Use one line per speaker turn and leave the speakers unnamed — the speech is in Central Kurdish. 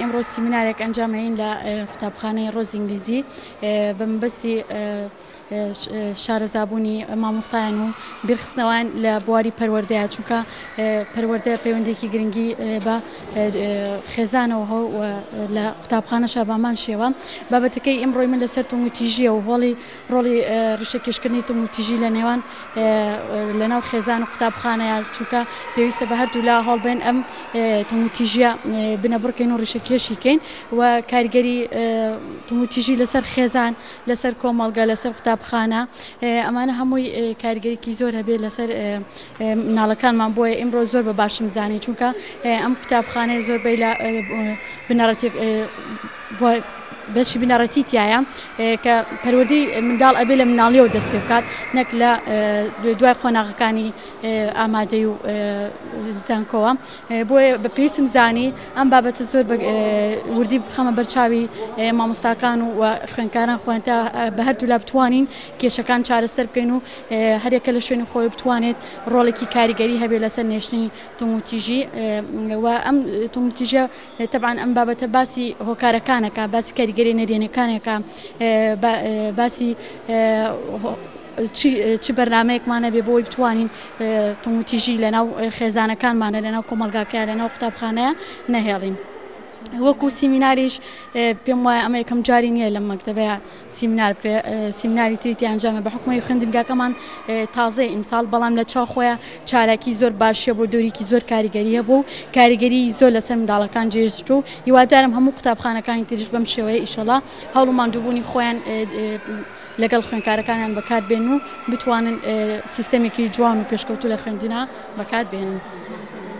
ئیمڕۆ سیمینارێک ئەنجامەین لە قوتابخانەی ڕۆز ئینگلیزی بە مەبەستی شارەزابوونی مامۆستایان و بیرخستنەوەیان لە بواری پەروەردەیە چونکە پەروەردە پەیوەندێکی گرنگی بە خێزانەوە هەو لە قوتابخانەشە بامان شێوە بابەتەکەی ئیمڕۆی من لەسەر توندوتیژیە و هۆڵی ڕۆڵی ڕیشەکێشکردنی توندوتیژی لە نێوان لە ناو خێزان و قوتابخانەیە چونکە پێویستە بە هەردوو لا هەڵبێن ئەم توندوتیژیە بنەبڕکەین و ڕیشەکێشی کەین و کاریگەری توندوتیژی لەسەر خێزان لەسەر کۆمەڵگە لەسەر قوتابخانە ئەمانە هەمووی کاریگەریکی زۆر هەبێت لەسەر مناڵەکانمان بۆیە ئیمڕۆ زۆر بە باشم زانی چونکە ئەم قوتابخانەیە زۆربەی لە بنەڕەتی و بەشی بنەڕەتی تیایە کە پەروەردەی منداڵ ئەبێ لە مناڵیەوە دەست پێ بکات نەک لە دوای قۆناغەکانی ئامادەی و زانکۆوە بۆیە بە پێویستم زانی ئەم بابەتە زۆر وردی بخەمە بەرچاوی مامۆستاکان و خوێنکاران خوێنتا بە هەردوو لا بتوانین کێشەکان چارەسەر بکەین و هەرێکە لە شوێنی خۆی بتوانێت ڕۆڵێکی کاریگەری هەبێ لەسەر نێشتنی توموتیژی و ئەم تومتیژە تەبعەن ئەم بابەتە باسی هۆکارەکانەکە باسی کاریگەری نەرێنەکانێکە باسی چ بەرنمەیەکمانە بێ بۆی بتوانین تموتیژی لەناو خێزانەکانمانە لەناو کۆمەلگاکە لەناو قوتابخانەیە نەهێڵین وەکو سیمیناریش پێم وایە ئەمە یکەم جاری نییە لە مەکتتەبەیە سیمنار بکرێ سیمناری تری تی ئەنجامە بە حکومی خوێندنگاکەمان تازەی ئیمساڵ بەڵام لە چاو خۆیان چالاکی زۆر باشە بۆ دۆریکی زۆر کاریگەریە بوو کاریگەری زۆر لەسەر منداڵەکان جێشت و هیوادارم هەموو قوتابخانەکانی تریش بەم شێوەیە ئیشەڵا هەوڵ و ماندووبوونی خۆیان لەگەڵ خوێنکارەکانیان بەکار بێن و بتوانن سیستەمێکی جوان و پێشکەوتو لە خوێندنا بەکار بێنن.